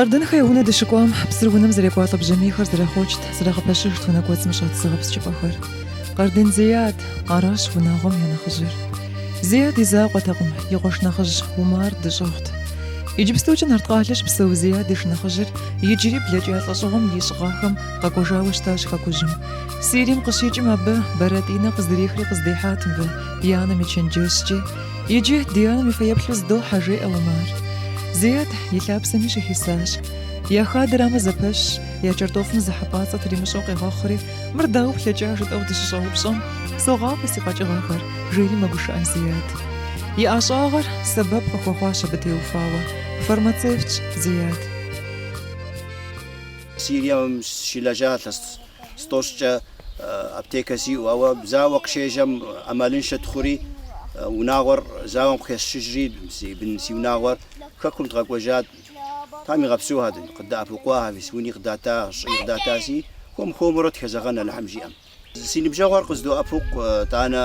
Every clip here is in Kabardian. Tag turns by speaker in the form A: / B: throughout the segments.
A: Къардэнхэ я унэ дыщыкӏуам псыр унэм зэрекӏуалӏэ бжьамийхэр зэрахъуэкӏт, зэрагъэпэщыжт унэ кӏуэцӏым щӏэт зыгъэпскӏыпӏэхэр. Къардэн Зеят, аращ унагъуэм я нэхъыжьыр. Зеят и закъуэтэкъым, и къуэш нэхъыжь Умар дэщӏыгъут. Иджыпстукӏэ Нарткъалэ щыпсэу Зеят и шынэхъыжьыр иджыри блэкӏа лӏэщӏыгъуэм ищӏ гъэхэм къэкӏуэжауэ щытащ хэкужьым. Сирием къыщикӏым абы бэрэтӏинэ къыздрихри къыздихьат мыбы и анэм и чэнджэщкӏэ. Иджы ди анэм и фэеплъу здохьэ, жеӏэ Умар. Зеят и лъапсэми щыхисащ. Я хадэрамэ зэпэщщ, я кӏэртӏофым зы хьэпӏацӏэ тримыщӏэу къегъэхъури, Мыр дауэ плъэкӏа жытӏэу дыщыщӏэупщӏэм, согъафӏэ си къэкӏыгъэхэр, жери мэгушыӏэ Зеят. И ӏэщӏагъэр сэбэп къыхуэхъуащ абы теухуауэ. Фармацевтщ Зеят.
B: Сирием сщылэжьа илъэс тӏощӏкӏэ аптекэ сиӏэу, ауэ зауэ къыщежьэм ӏэмалыншэ дыхъури, унагъуэр зауэм къыхэсшыжри, си бын, си унагъуэр Хэкум дыкъэкӏуэжат. Тхьэм игъэпсэу адэ, къыддэӏэпыкъуа авис, уни къыдата, щӏыи къыдатаси, хуэм хуэмурэ дыхэзэгъэн Алыхьым жиӏэм. Си ныбжьэгъуэр къыздоӏэпыкъу, тӏанэ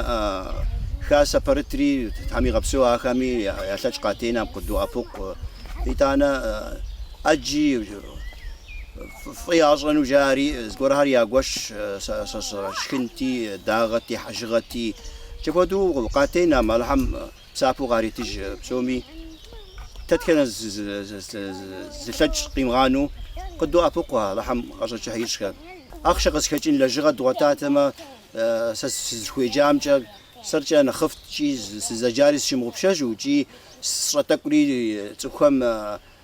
B: Хасэ Пэрытри, Тхьэм игъэпсэу ахэми я лъэкӏ къатенам къыддоӏэпыкъу, итӏанэ ӏэджи фӏы ящӏэну жаӏэри, зыгуэрхэр ягуэш, шхынти, дагъэти, хьэжыгъэти, икӏи апхуэду къатенам Алыхьым. Псапэу къаритыж псоми. Тэтхэнэ зылъэкӏ къимыгъанэу къыддоӏэпыкъу Алыхьым къэщӏэкӏыхьищӏхэр. Ахъшэ къызхэкӏын лэжьыгъэ дгъуэтатэмэ, сэ сызыхуеджамкӏэ сэркӏэ нэхъыфӏт икӏи сызэджари сыщымыгъупщэжу икӏи сщӏэ тӏэкӏури цӏыхухэм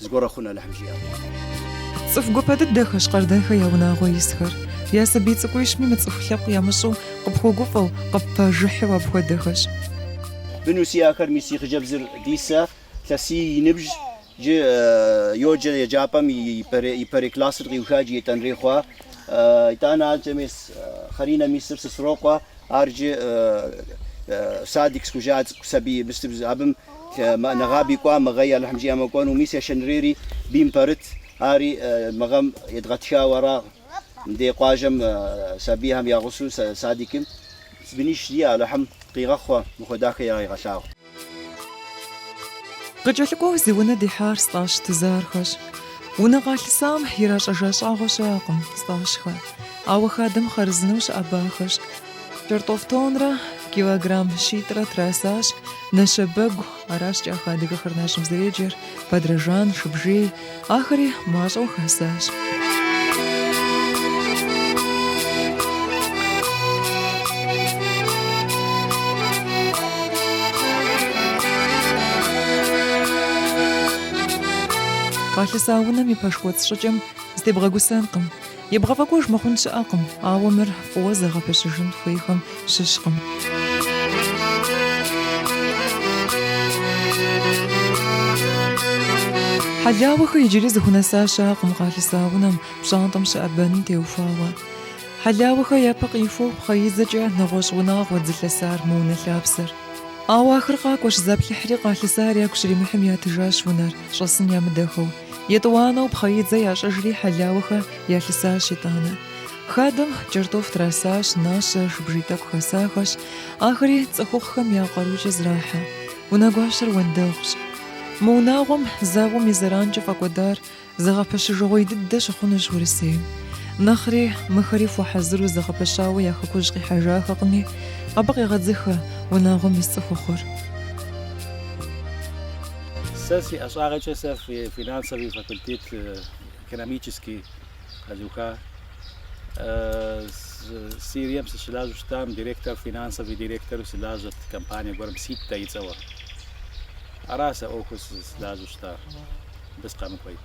B: Зыгуэрэ хъун Алыхьым жиӏэм.
A: Цӏыху гуапэ дыдэхэщ Къардэнхэ я унагъуэ исхэр. Я сабий цӏыкӏуищми мыцӏыху лъэпкъ ямыщӏу, къыпхуэгуфӏэу, къыппэжыхьу апхуэдэхэщ. Быну
B: сиӏэхэр, мис си хъыджэбзыр Дисэ, илъэсий и ныбжь, джы йоджэ еджапӏэм ипэрей классыр къиуха джы етӏуанэрей хъуа. Итӏанэ анкӏэ мес Хъаринэ мисыр сысрокъуэ, ар джы садик схужа цӏыкӏу сабий, мыстыбз абым Мы ӏэ нэгъаби кӏуа мы гъэи Алыхьым жиӏэмэ кӏуэну, мис ешэнрейри бийм пэрыт, ари мы гъэм едгъэтхауэ арагъ, мыдей къуажэм сабийхэм я гъусу садикым бынищ сиӏэ Алыхьым къигъэхъу мыхуэдахэ
A: ирагъегъэлъагъу. Къыкӏэлъыкӏуэу зи унэ дихьар Стӏащ Тызархэщ. Унэ къалъысам иращӏэжа щӏагъуэ щыӏэкъым, Стӏащхэ. Ауэ хадэм хъарзынэу щыӏэбахэщ. Кӏэртӏоф тоннрэ килограмм щитӏрэ трасащ Нэщэбэгу, аращ кӏахэ адыгэхэр нащэм зэреджэр, бадрэжан, шыбжий, ахэри мащӏэу хэсащ. Къалъыса унэм и пэш кӏуэцӏ щӏыкӏэм зытебгъэгусэнкъым. Ебгъэфӏэкӏуэж мыхъун щыӏэкъым, ауэ мыр фӏыуэ зэгъэпэщыжын хуейхэм щыщкъым. Хьэлауэхэ иджыри зыхунэса щыӏэкъым къалъыса унэм, пщӏантӏэм щыӏэ бэным теухуауэ. Хьэлауэхэ япэ къихуэу пхъэидзэкӏэ нэгъуэщӏ унагъуэт зылъысар мы унэ лъапсэр. Ауэ ахэр къакӏуэщ заплъыхьри къалъысар ягу щримыхьым ятыжащ унэр, щӏэсын ямыдэхэу. Етӏуанэу пхъэидзэ ящӏыжри Хьэлауэхэ ялъысащ итӏанэ. Хадэм кӏэртӏоф трасащ, нащэ, шыбжий тӏэкӏу хэсахэщ. Ахэри цӏыхухъухэм я къарукӏэ зрахьэ. Унэгуащэр уэндэгъущ. Мы унагъуэм зауэм и зэранкӏэ фӏэкӏуэдар зэгъэпэщыжыгъуей дыдэ щыхъунущ Урысейм. Нэхъри мыхэри хуэхьэзыру зэгъэпэщауэ я хэкужь къихьэжахэкъыми, абы къегъэдзыхэ унагъуэм ис цӏыхухъур.
C: Сэ си ӏэщӏагъэкӏэ сэ финансовый факультет экономический къэзуха Сирием сыщылажьэу щытам директор финансовый директору сылажьэт компания гуэрым Ситтэ и цӏэуэ. Ара сэ ӏуэхур сылажьэу щыта мыбы сыкъэмыкӏуэ и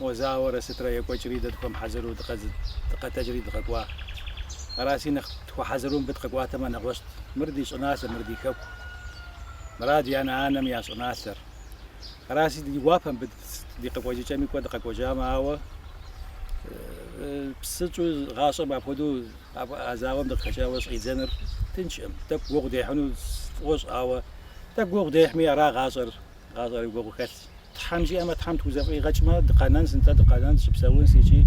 C: О зауэрэ сытрэ екӏуэкӏри дэ дыхуэмыхьэзыру дыкъэтэджри дыкъэкӏуа. Араси нэхъ дыхуэхьэзыру мыбы дыкъэкӏуатэмэ нэгъуэщӏт. Мыр ди щӏыналъэ, мыр ди хэку. Мыр адэ-анэм я щӏыналъэр. Араси ди гуапэ мыбы дыкъэкӏуэжами кӏуэ дыкъэкӏуэжамэ, ауэ псынщӏэу гъащӏэм апхуэдэу а зауэм дыкъыхэкӏауэ щӏидзэныр тыншкъым. Тӏэкӏу гугъу дехьыну сфӏощӏ, ауэ тӏэкӏу гугъу дехьми ара гъащӏэр. гъащӏэри гугъу хэлъщ. Тхьэм жиӏэмэ, Тхьэм тхузэфӏигъэкӏмэ, дыкъэнэн, сынтӏэ дыкъэнэн, дыщыпсэунщ икӏи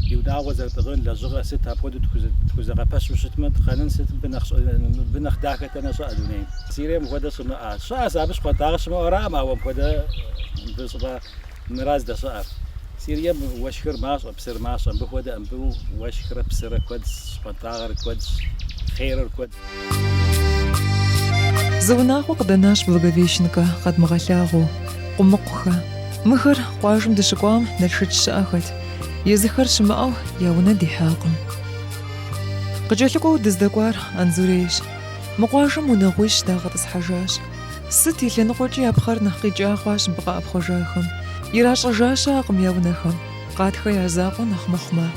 C: ди унагъуэ зэрытӏыгъын, лэжьыгъэ сыт, апхуэдэу тхузэгъэпэщу щытмэ, дыкъэнэн сыт, мыбы нэхъ дахэ дэнэ щыӏэ дунейм. Сирием мыпхуэдэ щымыӏэ щыӏэ, сэ абы щхъуантӏагъэ щымыӏэуэ аракъым, ауэ мыпхуэдэ мыбы щӏыпӏэ Мыра здэщыӏэр. Сирием уэшхыр мащӏэ, псыр мащӏэ. Мыбы хуэдэ мыбы уэшхрэ псырэ куэдщ, щхъуантӏагъэр куэдщ, хъерыр куэдщ.
A: Зы унагъуэ къыдэнащ Благовещенкэ, къэдмыгъэлъагъуэу. Къумыкъухэ. Мыхэр къуажэм дыщыкӏуам Налшыч щыӏэхэт. Езыхэр щымыӏэу я унэ дихьакъым. Къыкӏэлъыкӏуэу дыздэкӏуар Анзурейщ. Мы къуажэм унагъуищ дагъэтӏысхьэжащ. Сыт и лъэныкъуэкӏи я пхъэр нэхъ къикӏа хъуащ мыбы къэӏэпхъуэжахэм. Иращӏэжа щыӏэкъым я унэхэм, Къатхэ я закъуэ нэхъ мыхъумэ.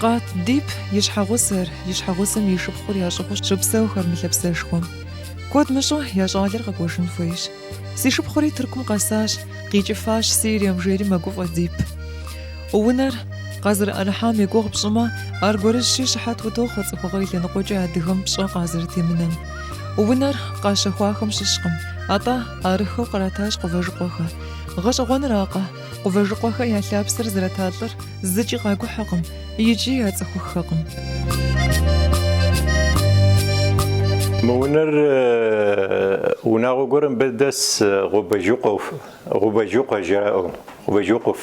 A: Къат Дип и щхьэгъусэр, и щхьэгъусэм и шыпхъур ящӏыгъуу щыпсэухэр мы лъэпсэшхуэм. Куэд мыщӏэу я щӏалэр къэкӏуэжын хуейщ. Си шыпхъури Тыркум къэсащ, къикӏыфащ Сирием, жери мэгуфӏэ Дип. Унэр къазэрыӏэрыхьам и гугъу пщӏымэ, аргуэрыщи щыхьэт утохъуэ цӏыхугъэ и лъэныкъуэкӏи адыгэм пщӏэ къазэрытемынэм. Унэр къащэхуахэм щыщкъым, атӏэ арыххэу къратащ Къувэжыкъуэхэ. Гъэщӏэгъуэнракъэ, Къувэжыкъуэхэ я лъапсэр зрата лӏыр зыкӏи къагухьэкъым икӏи яцӏыхуххэкъым.
D: Мы унэр унагъуэ гуэрым бэдэс Гъубэжыкъуэу, Гъубэжыкъуэ жаӏэу, Гъубэжыкъуф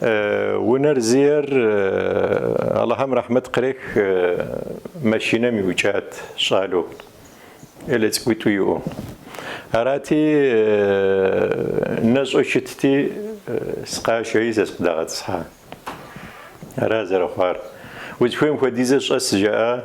D: Унэр зиӏэр Алыхьым рэхьмэт кърех машинэм иукӏат щӏалэу, элэ цӏыкӏуитӏу иӏэу. Арати, нэщӏэу щытти, сыкъашэри сэ сыкъыдагъэтӏысхьа. Ара зэрыхъуар. Узыхуейм хуэдизэ щӏэс жаӏа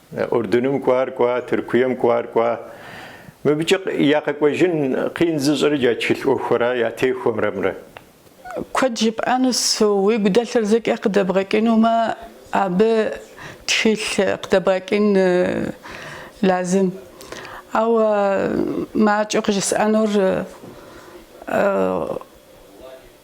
D: Урдыным кӏуар кӏуа, Тыркуем кӏуар кӏуа. Мыбыкӏэ я къэкӏуэжын къин зыщӏыр иджы тхылъ ӏуэхура я техуэмрэмрэ? Куэд
E: жыпӏэнущ, уигу дэлъыр зэкӏэ къыдэбгъэкӏынумэ, абы тхылъ къыдэбгъэкӏын лазым. Ауэ макӏэу къыжысӏэнур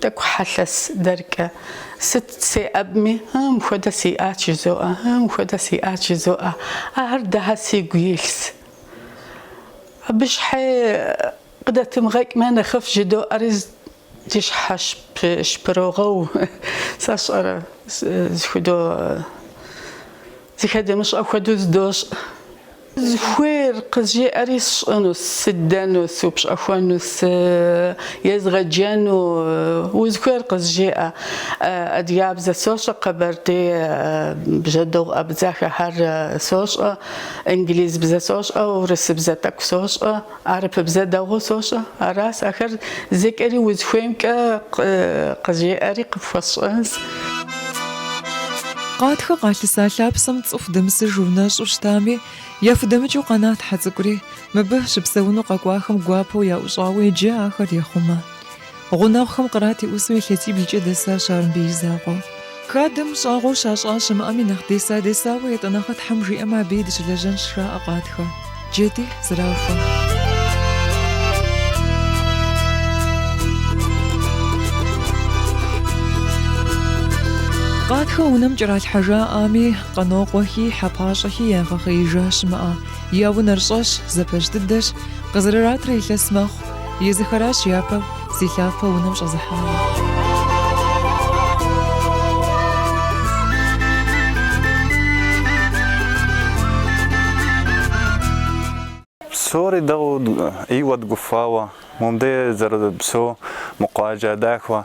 E: Тӏэкӏу хьэлъэс дэркӏэ. Сыт сеӏэбми, ы, мыхуэдэ сиӏат жызоӏэ, ы, мыхуэдэ сиӏат жызоӏэ. Ахэр дыхьэ сигу илъс. Абы щхьэ къыдэтымыгъэкӏмэ нэхъыфӏ жыдоӏэри ди щхьэ щпырогъэу, сэ сщӏэрэ, зыхудо, зыхэдэмыщӏэ хуэдэу здощӏ. Узыхуейр къызжеӏэри сщӏыну, сыдэну, сыупщӏэхуэну, сыезгъэджэну, узыхуейр къызжеӏэ. Адыгабзэ сощӏэ, къэбэрдей, бжьэдыгъу, абдзахэхэр сощӏэ, инглизбзэ сощӏэ, урысыбзэ тӏэкӏу сощӏэ. Арыпыбзэ дэгъу сощӏэ. Арас ахэр зэкӏэри узхуеймкӏэ къызжеӏэри къыпхуэсщӏэнс.
A: Къатхэ къалъыса лъапсэм цӏыху дэмысыжу нэщӏу щытами, яхудэмыкӏыу къэнат хьэ цӏыкӏури. Мыбы щыпсэуну къэкӏуахэм гуапэу яӏущӏауэ иджы ахэр ехъумэ. Гъунэгъухэм кърат и ӏусу илъэсиблкӏэ дэсащ ар мыбы и закъуэ. Хадэм щӏагъуэу щащӏа щымыӏэми нэхъ деса-десауэ етӏанэгъэ Тхьэм жиӏэмэ абыи дыщылэжьэнщ жаӏэ Къатхэ. Джэди зэрахуэ. Къатхэ унэм кӏэралъхьэжаӏами, Къанокъуэхи, Хьэпащӏэхи ягъэхъеижа щымыӏэ. Я унэр щӏэщ, зэпэщ дыдэщ, къызэрыратрэ илъэс мэхъу, езыхэращ япэу зи лъапэ унэм щӏэзыхьари. Псори дэгъу, иуэ дыгуфӏауэ, мыбдей зэрыпсэу, мы къуажэ
F: дахэу.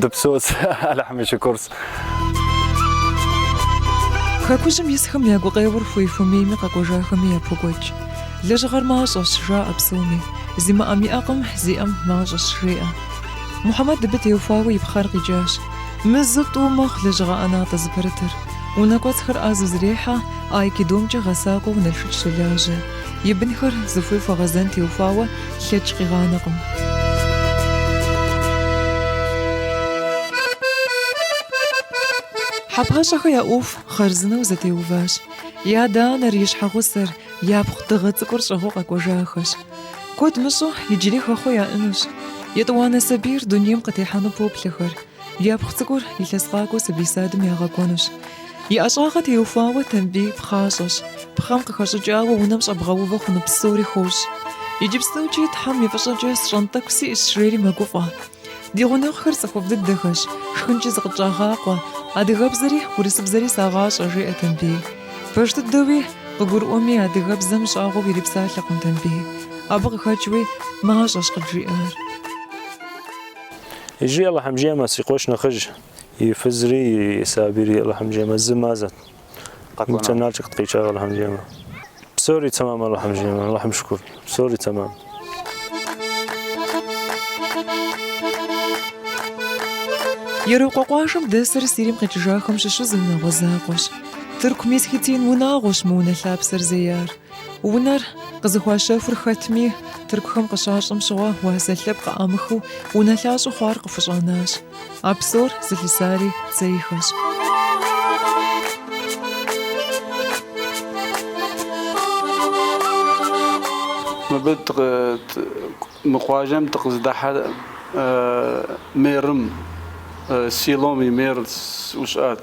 F: Дыпсэус, Алыхьым и
A: шыкурс. Хэкужьым исхэм я гукъеуэр хуей-хуэмейми къэкӏуэжахэми япокӏуэкӏ. Лэжьыгъэр мащӏэщ, жаӏэ псоми. Зимыӏэм иӏэкъым, зиӏэм мащӏэщ, жеӏэ. Мухьэмэд абы теухуауэ и пхъэр къикӏащ. Мызу тӏу мэхъу лэжьыгъэ ӏэнатӏэ зыпэрытыр. Унэ кӏуэцӏхэр ӏэзэу зэрехьэ, айкидомкӏэ гъэсакӏуэу Налшык щолажьэ. И бынхэр зыхуей хуэгъэзэн теухуауэ лъэкӏ къигъанэкъым. Хьэпащӏэхэ я ӏуэху хъарзынэу зэтеуващ. И адэ-анэр, и щхьэгъусэр, япхъу дыгъэ цӏыкӏур щӏыгъуу къэкӏуэжахэщ. Куэд мыщӏэу, иджыри хэхъуэ яӏэнущ. Етӏуанэ сабийр дунейм къытехьэну поплъэхэр. Япхъу цӏыкӏур илъэс къакӏуэ сабий садым ягъэкӏуэнущ. И ӏэщӏагъэ теухуауэ Тамбий пхъащӏэщ. Пхъэм къыхэщӏыкӏауэ унэм щӏэбгъэувэ хъуну псори хуощӏ. Иджыпстукӏи Тхьэм и фӏыщӏэкӏэ сщӏэн тӏэкӏу сиӏэщ жери мэгуфӏэ. Ди гъунэгъухэр цӏыхуфӏ дыдэхэщ, шхынкӏи зыкъытщӏагъакъуэ, адыгэбзэри, урысыбзэри сагъащӏэ, жеӏэ Тамбий. Пэж дыдэуи, къыгурыӏуэми, адыгэбзэм щӏагъуэу ирипсалъэкъым Тамбий. Абы къыхэкӏуи, мащӏэщ къыджиӏар.
G: Иджы Алыхьым жиӏэмэ, си къуэш нэхъыжь, и фызри, и сабийри Алыхьым жиӏэмэ зы мазэт. Ныбцэ нарчӏэ къыткъикӏа Алыхьым жиӏэмэ. Псори тэмам Алыхьым жиӏэмэ, Алыхьым шыкур, псори тэмам.
A: Ерокъуэ къуажэм дэсыр Сирим къикӏыжахэм щыщу зы унагъуэ закъуэщ. Тырку-месхетин унагъуэщ мы унэ лъапсэр зеяр. Унэр къызыхуащэхур хэтми, тыркухэм къыщащэм щыгъуэ уасэ лъэпкъ къыӏамыхыу унэлъащӏэу хъуар къыхущӏанащ. А псор зылъысари Цейхэщ.
H: Мыбы мы къуажэм дыкъызыдыхьэр мэрым, селом и мэру щыӏэт.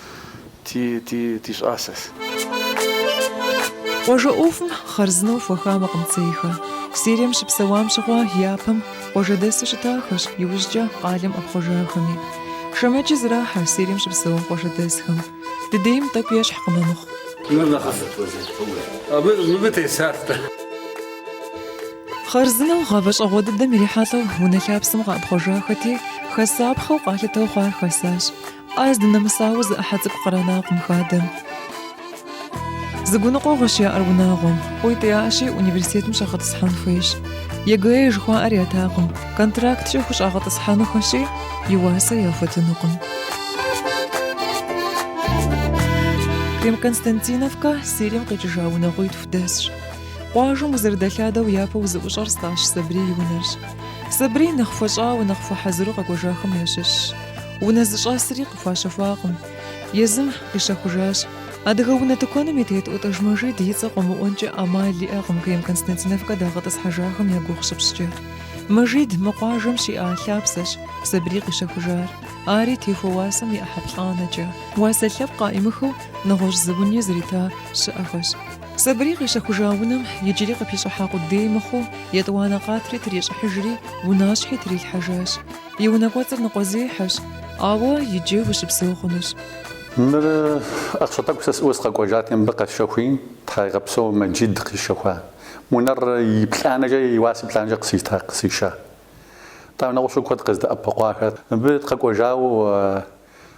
H: ти, ти, ти щӏасэс.
A: Къуажэ ӏуэхум хъарзынэу хуэхамэкъым Цейхэ. Сирием щыпсэуам щыгъуэ япэм къуажэдэсу щытахэщ, иужькӏэ къалэм ӏэпхъуэжахэми. Шэмэджи зэрахьэ Сирием щыпсэуа къуажэдэсхэм. Дыдейм тӏэкӏу
I: ещхькъым
A: мыхъу. Хъарзынэу гъавэ щӏэгъуэ дыдэм ирихьэлӏэу унэ лъапсэм къэӏэпхъуэжахэти, хэсапхъэу къалъытэу хъуар хасащ. Ӏэ здынэмысауэ зы ӏыхьэ цӏыкӏу къранакъым хадэм. Зы гуныкъуэгъуэщ яӏэр унагъуэм. Къуитӏ яӏэщи, университетым щӏагъэтӏысхьэн хуейщ. ЕГЭ жыхуаӏэр ятакъым. Контракткӏэ хущӏагъэтӏысхьэнухэщи, и уасэ яхуэтынукъым. Крем-Константиновкэ Сирием къикӏыжа унагъуитху дэсщ. Къуажэм узэрыдэлъадэу япэу узыӏущӏэр Стӏащ Сабрий и унэрщ. Сабрий нэхъ хуэщӏауэ, нэхъ хуэхьэзыру къэкӏуэжахэм ящыщщ. Унэ зыщӏэсри къыхуащэхуакъым. Езым къищэхужащ. Адыгэ унэ тыкуэным и тет ӏутӏыж Мэжид и цӏэ къыумыӏуэнкӏэ ӏэмал иӏэкъым Крем-Константиновкэ дагъэтӏысхьэжахэм я гугъу щыпщӏкӏэ. Мэжид мы къуажэм щиӏа лъапсэщ, Сабрий къищэхужар. Ари техуэ уасэм и ӏыхьэплӏанэкӏэ. Уасэ лъэпкъ къаӏимыхыу нэгъуэщӏ зы уни зрита щыӏэхэщ. Сабрий къищэхужа унэм иджыри къыпищӏыхьа къудей мыхъуу, етӏуанэ къатри трищӏыхьыжри, унащхьи трилъхьэжащ. И унэ кӏуэцӏыр ныкъуэзехьэщ, ауэ иджы ущыпсэу хъунущ.
J: Мыр ахъшэ тӏэкӏу сэ сиӏэу сыкъэкӏуэжати, мыбы къэсщэхуи, Тхьэ егъэпсэу Мэджид къищэхуа унэр и плӏанэкӏэ, и уасэ плӏанэкӏэ къысита, къысища. Тӏэ нэгъуэщӏу куэд къыздэӏэпыкъуахэр. Мыбы къэкӏуэжауэ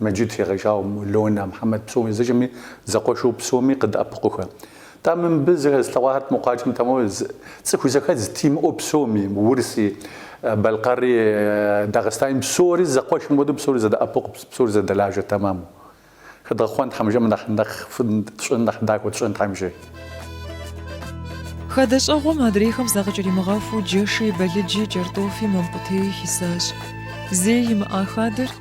J: Мэджыд щегъэжьауэ Мулонэ Мхьэмэд псоми зыжэми, зэкъуэшу псоми къыдэӏэпыкъухэ. Тӏамэ мыбы зэрыслъэгъуахэр, мы къуаджэм тэмэму цӏыху зэхэдз тимыӏэу псоми, урыси, балъкъэри, дагъыстани псори зэкъуэшым хуэдэу псори зэдэӏэпыкъу, псори зэдэлажэ тэмам. Хэдгъэхъуэн Тхьэм жиӏэм нэхъ нэхъыфӏ тщӏын, нэхъ дахэу тщӏын Тхьэм
A: жи. Хадэщӏэгъуэм адрейхэм закъыкӏэримыгъэхуу джэши, бэлыджи, кӏэртӏофи, мамкъутеи хисащ. Зэи имыӏа хадэр,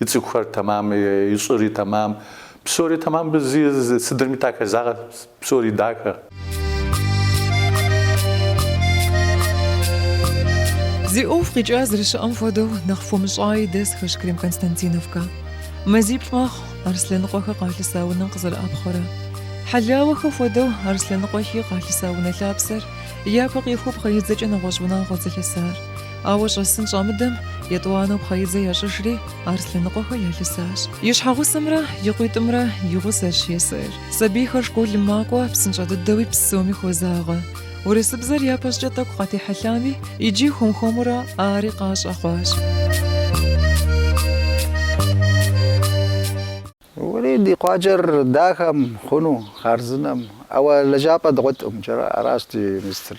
J: И цӏыхухэр тэмам, и щӏыри тэмам. Псори тэмам, бзи сыдырми дахэзагъэ, псори
A: дахэ. Зи ӏуэху къикӏа зэрыщыӏэм хуэдэу, нэхъ хуэмыщӏаи дэсхэщ Крем-Константиновкэ. Мазиплӏ мэхъу, Арслъэныкъуэхэ къалъыса унэм къызэрыӏэпхъуэрэ. Хьэлауэхэ хуэдэу, Арслъэныкъуэхи къалъыса унэ лъапсэр япэ къихуэу пхъэидзэкӏэ нэгъуэщӏ унагъуэт зылъысар. Ауэ щӏэсын щамыдэм, етӏуанэу пхъэидзэ ящӏыжри, Арслъэныкъуэхэ ялъысащ. И щхьэгъусэмрэ и къуитӏымрэ и гъусэщ Есэр. Сабийхэр школым макӏуэ, псынщӏэ дыдэуи псоми хуозагъэ. Урысыбзэр япэщӏкӏэ тӏэкӏу къатехьэлъами, иджы хуэм-хуэмурэ ари къащӏэ
B: хъуащ. Уэлей ди къуаджэр дахэм хъуну, хъарзынэм. Ауэ лэжьапӏэ дгъуэтӏым джыри, аращ ди мистыр.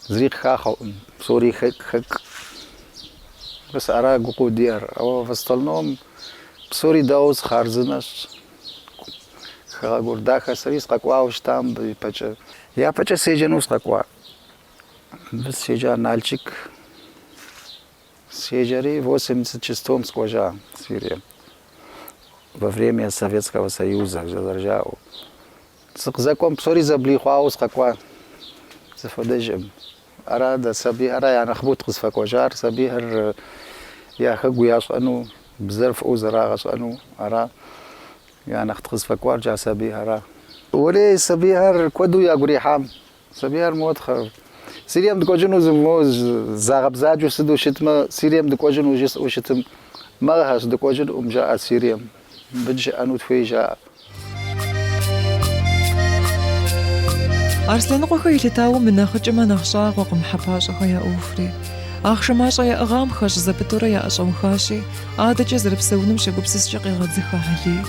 B: Зыри къыхахъэкъым, псори хэк-хэк. Мис ара гукъеуэ диӏэр? Ауэ в остальном псори дэгъуэщ, хъарзынэщ. Хэгъэгур дахэ, сэри сыкъэкӏуауэ щытам мыбы ипэкӏэ. Япэкӏэ седжэну сыкъэкӏуа. Мыбы сыщеджа Налчик седжэри восемьдесят шестом сыкӏуэжа Сирием. Во время Советского Союза, зэрыжаӏэу. Сыкъызэкӏуэм псори зэблихъуауэ сыкъэкӏуа зыхуэдэжкъым. Ара дэ сабийхэра янэхъыбэу дыкъызыфэкӏуэжар, сабийхэр я хэгу ящӏэну, бзэр фӏыуэ зэрагъэщӏэну ара я нэхъ дыкъызыфэкӏуар, джа сабийхэра. Уэлей, сабийхэр куэду ягу ирихьам, Сабийхэр, мо Тхьэр. Сирием дыкӏуэжыну зы мо загъэбзаджэу сыту щытмэ, Сирием дыкӏуэжыну жысӏэу щытмэ, мэгъыхэщ дыкӏуэжынкъым жаӏэ Сирием. Мыбы дыщыӏэну дыхуей жаӏэ. Арслъэныкъуэхэ
A: елъытауэ мынэхъыкӏэмэ нэхъ щӏагъуэкъым Хьэпащӏэхэ я ӏуэхури. Ахъшэ мащӏэ яӏыгъам хэщӏ зэпытурэ яӏэщӏэухащи, адэкӏэ зэрыпсэунум щегупсыскӏэ къегъэдзыхэ Хьэлий.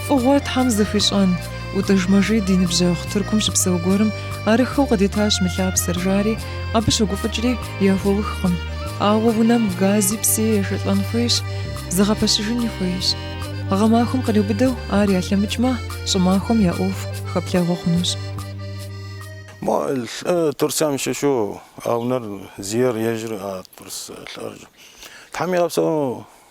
A: Фӏыгъуэр Тхьэм зыхуищӏэн! Утӏыж Мэжид и ныбжьэгъу Тыркум щыпсэу гуэрым арыххэу къыдитащ мы лъапсэр, жари, абы щогуфӏыкӏри яхуэухкъым. Ауэ унэм гази псыи ешэлӏэн хуейщ, зыгъэпэщыжыни хуейщ. Гъэмахуэм къриубыдэу ар ялъэмыкӏмэ, щӏымахуэм я ӏуэху хэплъэгъуэ хъунущ.
K: Мо лӏы Турциям щыщу а унэр зиер ежьыр а Турц лӏыр. Тхьэм игъэпсэу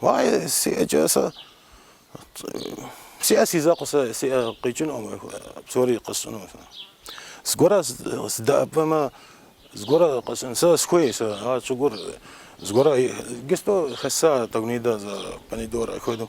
K: Уае, си ӏэкӏэ сэ сиӏэ си закъуэ сэ си ӏэ къикӏынукъым псори къэсщӏыну сэ. Зыгуэрэ сдэӏэпэмэ, зыгуэрэ къэсщӏын сэ схуей сэ а щӏыгур зыгуэрэ гесто хэса тагунидэ за помидор хуэдэу.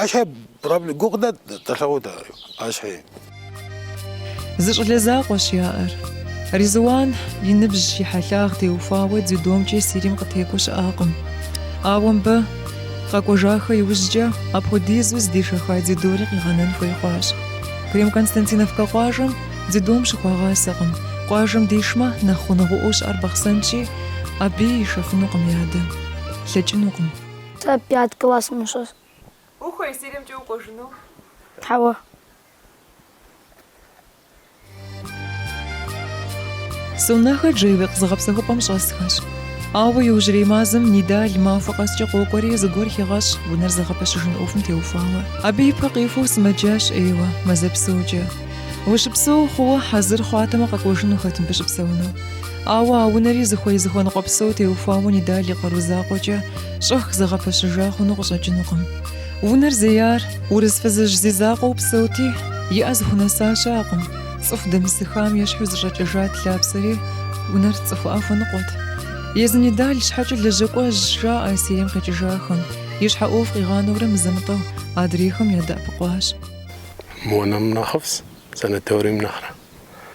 K: Ащхьэ проблем куэд дыдэ тлъэгъуа дэ
A: ащхьи. Зы щӏалэ закъуэщ яӏэр. Ризуан и ныбжь, и хьэлъагъ теухуауэ дзюдомкӏэ Сирием къытекӏуэу щыӏакъым. Ауэ мыбы, къэкӏуэжахэ иужькӏэ, апхуэдизу зыдишэха дзюдори къигъэнэн хуей хъуащ. Крем-Константиновкэ къуажэм дзюдом щыхуагъасэкъым. Къуажэм дишмэ, нэхъ гъунэгъуӏуэу щыӏэр Бахъсэнщи, абыи ишэфынукъым и адэ. Лъэкӏынукъым. Сэ пят классым сыщӏэсщ. Ухуей Сириемкӏэ укӏуэжыну? Хьэуэ. Сунэхэ Джайлыкъ зыгъэпсэхупӏэм щӏэсхэщ. Ауэ иужьрей мазэм Нидал махуэ къэскӏэ къокӏуэри, зыгуэр хегъэщӏ, унэр зыгъэпэщыжын ӏуэхум теухуауэ. Абы и пэ къихуэу сымэджащ ӏейуэ, мазэ псокӏэ. Ущыпсэу хъууэ, хьэзыр хъуатэмэ къэкӏуэжынухэт мыбы щыпсэуну. Ауэ а унэри зыхуей зыхуэныкъуэ псо теухуауэ Нидал и къару закъуэкӏэ щӏэх зэгъэпэщыжа хъуну къыщӏэкӏынукъым. Унэр зеяр урыс фызыжь зи закъуэу псэути, и ӏэ зыхунэса щыӏэкъым. Цӏыху дэмысыххам ещхьу зэщӏэкӏэжат лъапсэри, унэр цӏыхуӏэ хуэныкъуэт. Езы Нидал щхьэкӏэ лэжьэкӏуэжщ, жаӏэ Сирием къикӏыжахэм. И щхьэ ӏуэху къигъанэурэ мызэ-мытӏэу адрейхэм ядэӏэпыкъуащ. Монэм
L: нэхъыфӏс, санаторием нэхърэ.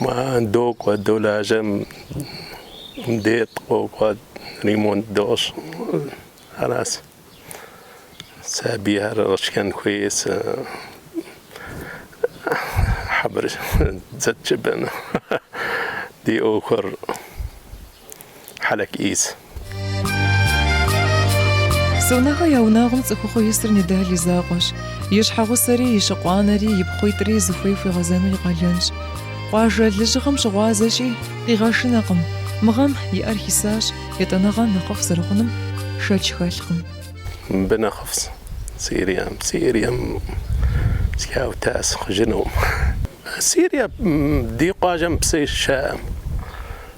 L: Ман докӏуэ долажьэ, мыдей дыкъокӏуэ, ремонт дощӏ. Арас сабийхэр шхэн хуейс хьэбыр зэтджыбэну ди ӏуэхур. Хьэлэк
A: ис. Сонэхэ я унагъуэм цӏыхухъу исыр Нидал и закъуэщ. И щхьэгъусэри, и щыкъуанэри, и пхъуитӏри зыхуей хуигъэзэну и къалэнщ. Къуажэ лэжьыгъэм щыгъуазэщи, къигъэшынэкъым. Мы гъэм иӏэр хисащ, етӏанэгъэ нэхъыфӏ зэрыхъунум шэч хэлъкъым.
L: Мыбы нэхъыфӏс Сирием. Сирием схаутас хъужынум. Сирие ди къуажэм псы щыӏэм.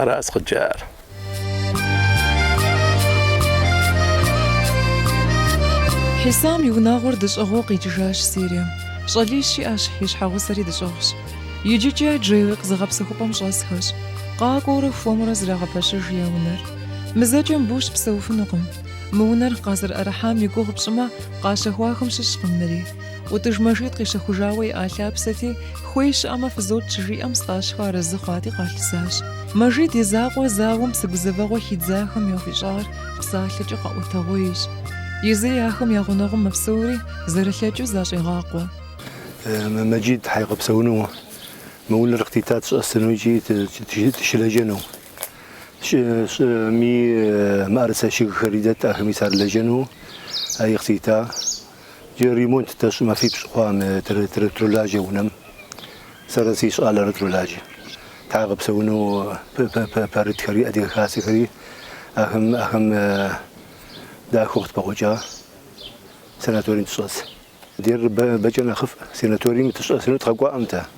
L: Ара
A: сыкъыджар? Хьисам и унагъуэр дэщӏыгъуу къикӏыжащ Сирием. Щӏалищ иӏэщ, и щхьэгъусэри дэщӏыгъущ. Иджыкӏэ Джайлыкъ зыгъэпсэхупӏэм щӏэсхэщ, къакӏуэурэ хуэмурэ зрагъэпэщыж я унэр. Мы зэкӏэ мыбы щыпсэуфынукъым. Мы унэр къазэрыӏэрыхьам и гугъу пщӏымэ, къащэхуахэм щыщкъым мыри. ӏутӏыж Мэжид къищэхужауэ иӏа лъапсэти, хуей щыӏэмэ фызотщ щыжиӏэм Стӏащхэ арэзы хъуати къалъысащ. Мэжид и закъуэ зауэм псэ гузэвэгъуэ хидзахэм яхуищӏар псалъэкӏэ къэӏуэтэгъуейщ. Езыри ахэм я гъунэгъум мэпсэури, зэрылъэкӏыу защӏегъакъуэ.
M: Мэжид тхьэ къэпсэуну, мы унэр къытита тщӏэсыну икӏи тыщылэжьэну. Щӏыми мыӏэрысэ шыгхэри дэт, ахэми сарлэжьэну, ари къытита. Джы ремонт дэщӏу мэфипщӏ хъуам тролажьэ унэм. Сэрэ си щӏалэрэ тролажьэ. Тхьэ къыпсэуну пэрытхэри, адыгэ хасэхэри ахэм дахэу къытпэгъуэкӏа санаторием тыщӏэс. Дер бэкӏэ нэхъыфӏ санаторием тыщӏэсыну тхъэкӏуаӏэм тэ.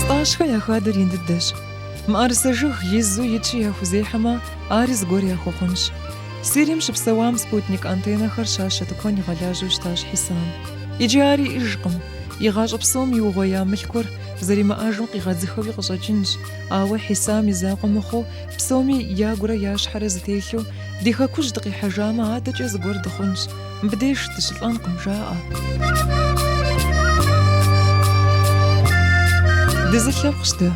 A: Стӏащхэ я хадэр ин дыдэщ. Мыӏэрысэ жыг изу итщи яхузехьэмэ, ари зыгуэр яхуэхъунщ. Сирием щыпсэуам спутник антеннэхэр щащэ тыкуэн игъэлажьэу щытащ Хьисам. Иджы ар иӏыжкъым. И гъащӏэ псом иугъуея мылъкур зэримыӏэжым къигъэдзыхэуи къыщӏэкӏынщ, ауэ Хьисам и закъуэ мыхъуу, псоми ягурэ я щхьэрэ зэтелъу, ди Хэкужь дыкъихьэжамэ, адэкӏэ зыгуэр дыхъунщ. Мыбдеж дыщылӏэнкъым, жаӏэ. Дызылъэпкъщ дэ.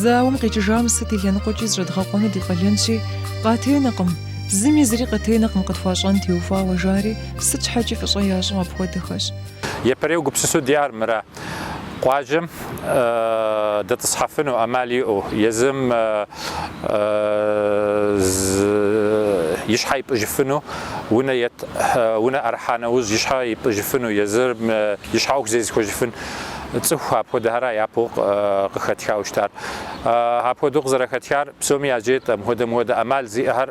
A: Зауэм къикӏыжам сыт и лъэныкъуэкӏи зыщӏэдгъэкъуэну ди къалэнщи, къатенэкъым, зыми зыри къытенэкъым къытхуащӏэн теухуауэ, жари, сыт щхьэкӏи фӏыщӏэ ящӏу апхуэдэхэщ.
N: Япэрейуэ гупсысэу диӏар мыра. Къуажэм дэтӏысхьэфыну ӏэмал иӏэу, езым и щхьэ ипӏыжыфыну унэ ет, унэ ӏэрыхьа нэужь и щхьэ ипӏыжыфыну, езым и щхьэ ӏуэху зезыхуэжыфын цӏыху апхуэдэхэра япэу къыхэтхауэ щытар. Апхуэдэу къызэрыхэтхар псоми яжетӏат, мыхуэдэ-мыхуэдэ ӏэмал зиӏэхэр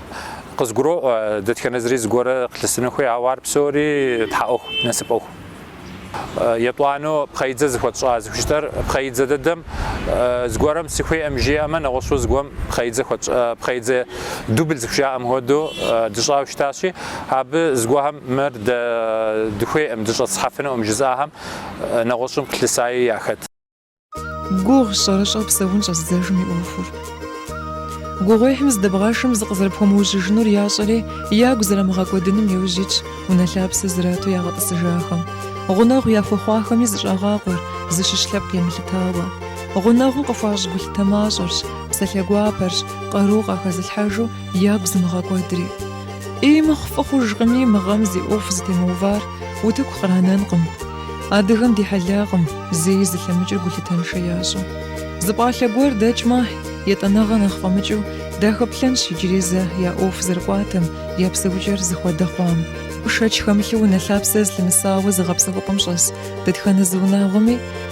N: Къызгуроӏуэ, дэтхэнэ зыри зыгуэрэ къылъысыну хуей, ауэ ар псори Тхьэ ӏуэху, насып ӏуэху. Етӏуанэу пхъэидзэ зыхуэтщӏа зыхужытӏэр пхъэидзэ дэдэм зыгуэрэм сыхуеӏым жиӏэмэ, нэгъуэщӏу зыгуэм пхъэидзэ хуэтщӏа, пхъэидзэ дубль зыхужаӏэм хуэдэу дыщӏауэ щытащи, абы зыгуэхэм мыр дэ дыхуеӏым, дыщӏэтӏысхьэфынуӏым жызыӏахэм нэгъуэщӏым къылъысаи яхэт.
A: Гугъущ щӏэрыщӏэу псэун щӏэзыдзэжым и ӏуэхур. Гугъуехьым зыдэбгъэшмэ зыкъызэрыпхуэмыужьыжынур ящӏэри, ягу зэрамыгъэкӏуэдыным иужь итщ унэ лъапсэ зрату ягъэтӏысыжахэм. Гъунэгъу яхуэхъуахэми зыщӏагъакъуэр, зыщыщ лъэпкъ емылъытауэ. Гъунэгъуу къыхуащӏ гулъытэ мащӏэрщ, псалъэ гуапэрщ, къару къахэзылъхьэжу, Ягу зымыгъэкӏуэдри. Ӏей мыхъу фӏы хъужкъыми, мы гъэм зи ӏуэху зытемыувар утыку къранэнкъым. Адыгэм ди хьэлакъым зэи зылъэмыкӏыр гулъытэншэ ящӏу. Зы пӏалъэ гуэр дэкӏмэ, етӏанэгъэ нэхъ фӏэмыкӏыу дахэплъэнщ иджыри зэ я ӏуэху зэрыкӏуатэм, я псэукӏэр зыхуэдэ хъуам. Шэч хэмылъу унэ лъапсэ зылъымысауэ зыгъэпсэхупӏэм щӏэс дэтхэнэ зы унагъуэми,